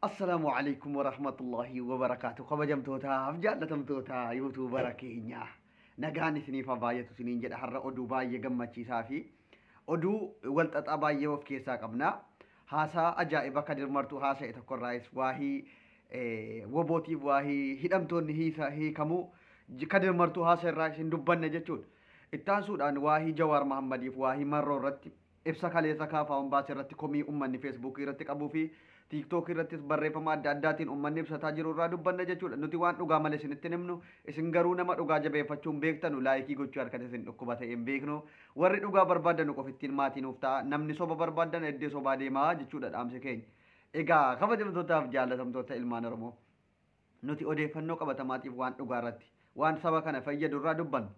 Assalaamu alaikum warahmatullahi wabarakaatu kabajamtootaaf jaallatamtoota yuutuubara keenya nagaan isiniif haa baay'atu isiniin jedha har'a oduu baay'ee gammachiisaa fi oduu walxaxaa baay'ee of keessaa qabna haasaa ajaa'iba kadir martuu haasa'e tokkorraayis waahii eh, wobootiif waahii hidhamtoonni hiisa hiikamuu kadir martuu haasa irraa isin dubbanna jechuudha. Itti aansuudhaan waahii Jawaar Mahaammadiif waahii Marroo irratti ibsa kaleessa KFOn baase irratti komii ummanni Feesbuukii irratti qabuu fi Tiiktookii irrattis barreeffama adda addaatiin ummanni ibsataa jiru irraa dubbanna jechuudha. Nuti waan dhugaa male isinitti hin himnu, isin garuu nama dhugaa jabeeffachuu hin beektanu, laayikii gochuu harkatti isin dhukkuba ta'ee hin beeknu. Warri dhugaa barbaaddanu qofa ittiin maatii nuuf ta'aa. Namni soba barbaaddan eddee sobaa deemaa jechuudha dhaamsi keenya. Egaa kabajamtootaaf jaallatamtoota ilmaan Oromoo. Nuti odeeffannoo qabatamaatiif waan dhugaa irratti, waan saba kana fayyadu irraa dubbanna.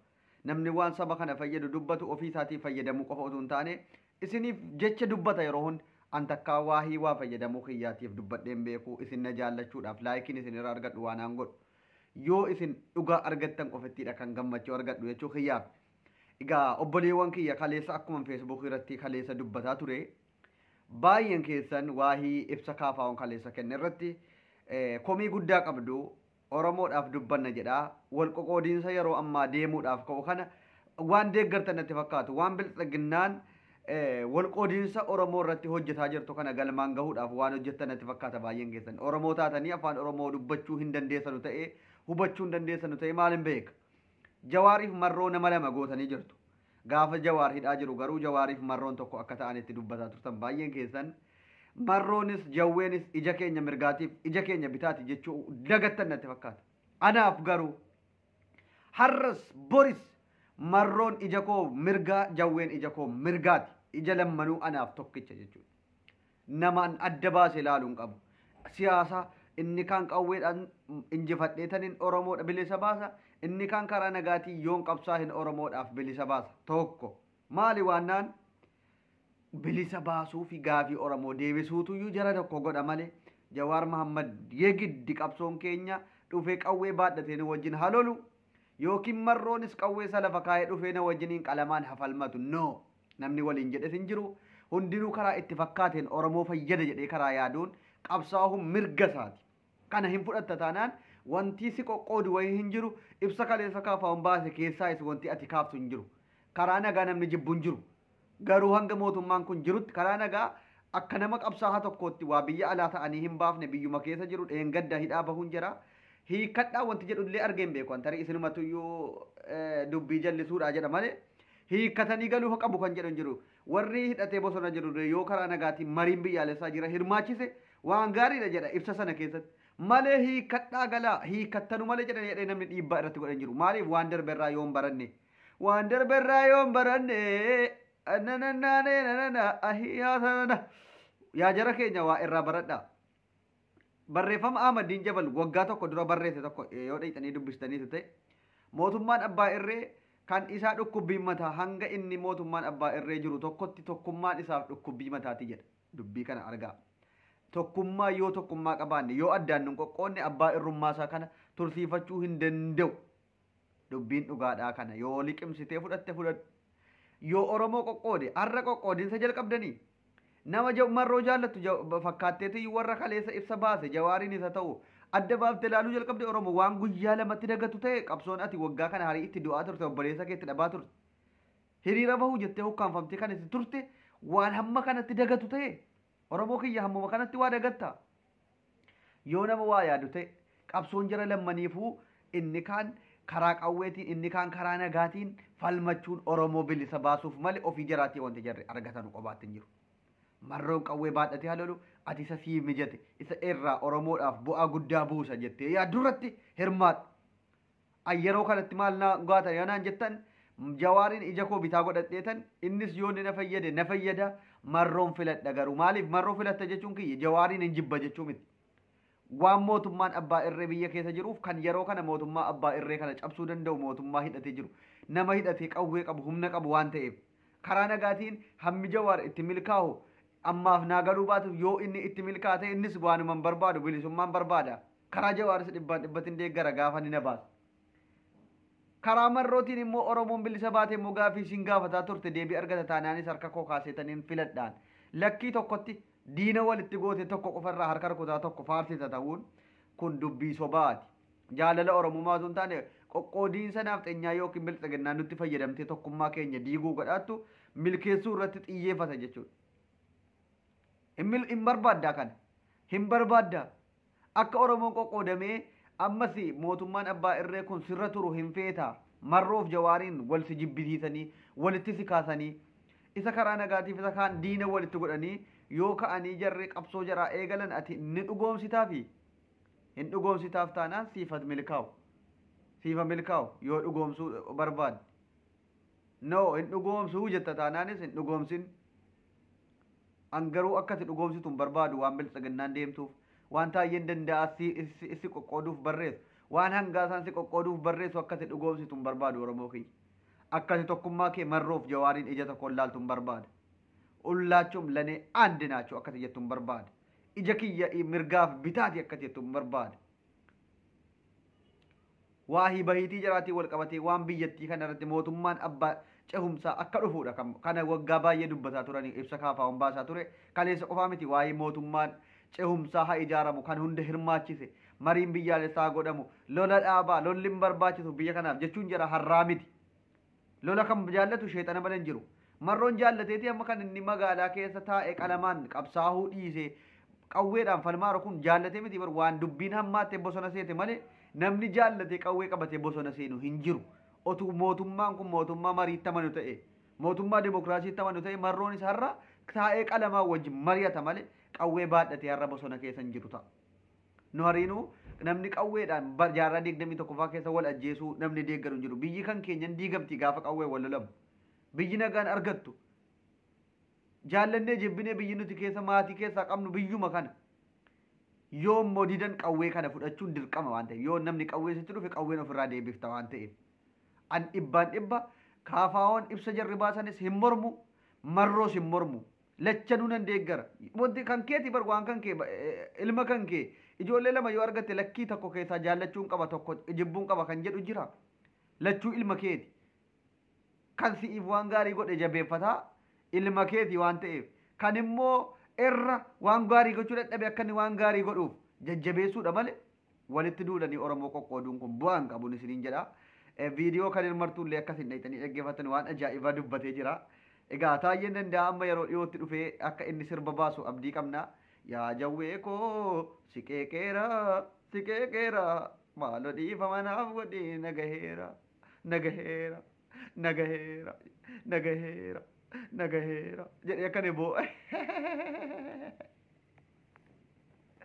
Namni waan saba kana fayyadu dubbatu ofii isaatiif fayyadamuu qofa utuu hin taane, isiniif jecha dubbata yeroo hunda. An takkaa waahii waa fayyadamuu kiyyaatiif dubbadhee hin beeku, isin na jaallachuudhaaf, laayikiin isin irraa argadhu waanaan godhu. Yoo isin dhugaa argattan qofittii dha kan gammachuu argadhu jechuu kiyyaaf. Egaa obboleewwan kiyya kaleessa akkuman feesbuukii irratti kaleessa dubbataa ture, Baay'een keessan waahii ibsa KFOn kaleessa kenne irratti komii guddaa qabdu. Oromoodhaaf dubbanna jedha. Wal qoqoodiinsa yeroo ammaa deemuudhaaf ka'u kana waan deeggartan natti fakkaatu. Waan bilxiginnaan wal qoodiinsa Oromoo irratti hojjetaa jirtu kana galmaan gahuudhaaf waan hojjettan natti fakkaata baay'een keessan. Oromoo taatanii afaan Oromoo dubbachuu hin dandeessanu ta'ee hubachuu hin dandeessanu ta'ee maal hin beeka. Jawaariif marroo nama lama gootanii jirtu. Gaafa Jawaar hidhaa jiru garuu Jawaariif Marroon tokko akka ta'an itti dubbataa turtan baay'een keessan. Marroonis Jawweenis ija keenya mirgaatiif ija keenya bitaati jechuu dagattan natti fakkaata. Anaaf garuu har'as boris Marroon ija koo mirgaa Jawween ija koo mirgaati. Ija lammanuu anaaf tokkicha jechuudha. namaan adda baase ilaalu hin qabu. Siyaasa inni kaan qawweedhaan injifadheetanin Oromoodha bilisa baasa, inni kaan karaa nagaatiin yoon qabsaahin Oromoodhaaf bilisa baasa. Tokko. Maali waannaan bilisa baasuu fi gaafii Oromoo deebisuutuyyuu jara tokko godha malee Jawaar Mahammad yegiddi qabsoon keenya dhufee qawwee baadhatee nu wajjin ha lolu yookiin Marroonis qawwee isa lafa kaa'ee dhufee na wajjiniin qalamaan ha falmatu. No! Namni waliin jedhes hin jiru. Hundinuu karaa itti fakkaateen Oromoo fayyada jedhee karaa yaaduun qabsaa'uun mirga isaati. Kana hin fudhatta taanaan wantii si qoqqoodu wayii hin jiru. Ibsa kaleessa KFOn baase keessaayis wantii ati kaaftu hin jiru. Karaa nagaa namni jibbu hin jiru. Garuu hanga mootummaan kun jirutti karaa nagaa akka nama qabsaahaa tokkootti waa biyya alaa ta'anii hin baafne biyyuma keessa jiru dheengadda hidhaa bahuun jira. Hiikkadhaa wanti jedhu illee argee hin beeku an tarii isinumatu iyyuu dubbii jallisuudhaa jedha malee hiikkatanii galuufa qabu kan jedhan jiru. Warri hidhatee bosona jirullee yoo karaa nagaatiin mariin biyyaalessaa jira hirmaachise waan gaariidha jedha ibsa sana keessatti. Malee hiikkadhaa galaa, hiikkattanu malee jedhan jedhee namni dhiibbaa irratti godhan jiru. Maaliif waan darbe irraa yoon baranne. Waan darbe irraa yoon baranne. Ananannaanee nanana ahiyaa sanana. Yaa jara keenya waa irraa baradhaa. Barreeffama Ahmadiin Jabal waggaa tokko dura barreesse tokko yoo dhaqxanii dubbistaniitu ta'e mootummaan abbaa irree kan isaa dhukkubbiin mataa hanga inni mootummaan abbaa irree jiru tokkotti tokkummaan isaaf dhukkubbii mataati jedha. Dubbii kana argaa. Tokkummaa yoo tokkummaa qabaanne yoo addaan nun qoqqoodne abbaa irrummaa isaa kana tursiifachuu hin danda'u. Dubbiin dhugaadhaa kana yoo liqimsitee fudhatte fudhadhu. Yoo Oromoo qoqqoode har'a qoqqoodinsa jalqabdanii? Nama ja marroo jaallattu ja fakkaatteetiyyu warra kaleessa ibsa baase jawaariinis haa ta'u adda baafte laaluu jalqabde Oromo waan guyyaa lamatti dagattu ta'e qabsoon ati waggaa kana harii itti du'aa turte obboleessa kee itti dhabaa turte hiriira bahu jettee hukkaanfamtee kan itti turte waan hamma kanatti dagattu ta'e Oromoo kiyya hammuma kanatti waa dagatta Yoo nama waa yaadu ta'e, qabsoon jara lammaniifuu inni kaan karaa qawweetiin, inni kaan karaa nagaatiin falmachuun Oromoo bilisa baasuuf malee ofii jaraatii wanti jarri argatanu qobaatti hin jiru. Marroon qawwee baadhatee haa lolu, ati isa siif mijate, isa irraa Oromoodhaaf bu'aa guddaa buusa jettee yaaddu irratti hirmaadhu. An yeroo kanatti maal naa goota yoo naan jettan Jawaariin ija koo bitaa godhadheetan innis yoo inni na fayyade na fayyada Marroon filadha garuu maaliif Marroo filatta jechuun kiyya Jawaariin hin jibba jechuu miti. Waan mootummaan abbaa irree biyya keessa jiruuf kan yeroo kana mootummaa abbaa irree kana cabsuu danda'u mootummaa hidhatee jiru nama hidhatee qawwee qabu humna qabu waan ta'eef karaa nagaatiin hammi Jawaar itti milkaahu ammaaf naa galuu baatus yoo inni itti milkaa'e innis waanuma hin barbaadu bilisummaan barbaada. Karaa Jawaaris dhibbaan dhibbatti hin deeggara gaafa ni na baasa. Karaa marrootiin immoo Oromoon bilisa baate immoo gaafii isin gaafataa turte deebii argata taanaanis harka koo kaaseetaniin filadhaan. Lakkii tokkotti diina walitti goote tokko qofa irraa harka rukutaa tokko faarsita ta'uun kun dubbii sobaati. Jaalala Oromummaa osoo hin taane qoqqoodiinsa naafxenyaa yookiin bilxiginnaa nutti fayyadamtee tokkummaa keenya diiguu gadhaattu milkeessuu irratti xiyyeeffata jechuudha. Hin barbaaddaa kana. Hin barbaaddaa. Akka Oromoon qoqqoodamee ammas mootummaan abbaa irree kun sirra turu hin feeta? Marroof Jawaariin wal si jibbisiisanii, walitti si kaasanii, isa karaa nagaatiif isa kaan diina walitti godhanii yoo ka'anii jarri qabsoo jaraa eegalan ati ni dhugoomsitaafi? Hin dhugoomsitaaf taanaan siif had milkaawu. Siif ha milkaawu yoo dhugoomsuu barbaadde. No hin dhugoomsu jetta taanaanis hin dhugoomsin. An garuu akka ati dhugoomsitu hin barbaadu waan biltsiginnaan deemtuuf, waan Taayyeen Danda'aa si qoqqooduuf barreessu, waan Hangaasaan si qoqqooduuf barreessu akka ati dhugoomsitu hin barbaadu Oromoo kiyya. Akka ati tokkummaa kee Marroo fi Jawaariin ija tokkoon laaltu hin barbaada. Hullaachum lane and naachu akka ati jettu hin barbaada. Ija kiyya mirgaa fi bitaa ti akka ati jettu hin barbaada. Waahii bahiitii jaraatiin wal qabatee waan biyyattii kana irratti mootummaan abbaa cehumsaa akka dhufuudha kan kana waggaa baay'ee dubbataa turanii ibsa KFOn baasaa ture kaleessa qofaa miti waa'ee mootummaan cehumsaa ha ijaaramu kan hunda hirmaachise mariin biyyaalessaa ha godhamu lola dhaabaa lolli hin barbaachisu biyya kanaaf jechuun jara harraa miti Lola kan jaallatu sheexana malee hin jiru. Marroon jaallateeti amma kan inni magaalaa keessa taa'e qalamaan qabsaahuu dhiisee qawweedhaan falmaaru kun jaallatee miti bar waan dubbiin hammaattee bosona seete malee namni jaallatee qawwee qabatee bosona seenu hin jiru. Otuu mootummaan kun mootummaa mariitti amanu ta'e mootummaa demokraasiitti amanu ta'e marroonis har'a taa'ee qalamaa wajjin mari'ata malee qawwee baadhatee har'a bosona keessa hin jiru ta'a. Nu hariinuu namni qawweedhaan bar jaarraa 21ffaa keessa wal ajjeesuu namni deeggaru hin jiru. Biyyi kan keenya hin diigamti gaafa qawween wal lolamu. Biyyi nagaan argattu. Jaallannee jibbinee biyyi nuti keessa maatii keessaa qabnu biyyuma kana. Yoo immoo didan qawwee kana fudhachuun dirqama waan ta'eef yoo namni qawwee sitti dhufe qawween ofirraa deebifta waan ta'eef. An dhibbaan dhibba KFO'n ibsa jarri baasanis hin mormu, Marroos hin mormu. Lachanuu nan deeggara. Wanti kan keeti bar waan kan kee ilma kan kee ijoollee lama yoo argatte lakkii tokko keessaa jaallachuun qaba tokko jibbuun qaba kan jedhu jira. Lachuu ilma keeti. Kan si'iif waan gaarii godhe jabeeffataa ilma keeti waan ta'eef. Kan immoo irra waan gaarii gochuu dadhabe akka inni waan gaarii godhuuf jajjabeessuudha malee Walitti duulanii Oromoo qoqqooduun kun bu'aa hin qabun isiniin jedha. Viidiyoo Kadir Martuu illee akka isin dhayxanii dhaggeeffattan waan ajaa'ibaa dubbatee jira. Egaa Taayyeen Danda'aa amma yeroo dhiyootti dhufee akka inni sirba baasu abdii qabna. Yaa Jawwee koo si qeeqeera, si qeeqeera, maaloo dhiifama naaf godhi na gaheera, na gaheera, na gaheera, na gaheera, na gaheera jedhee akka inni boo'e.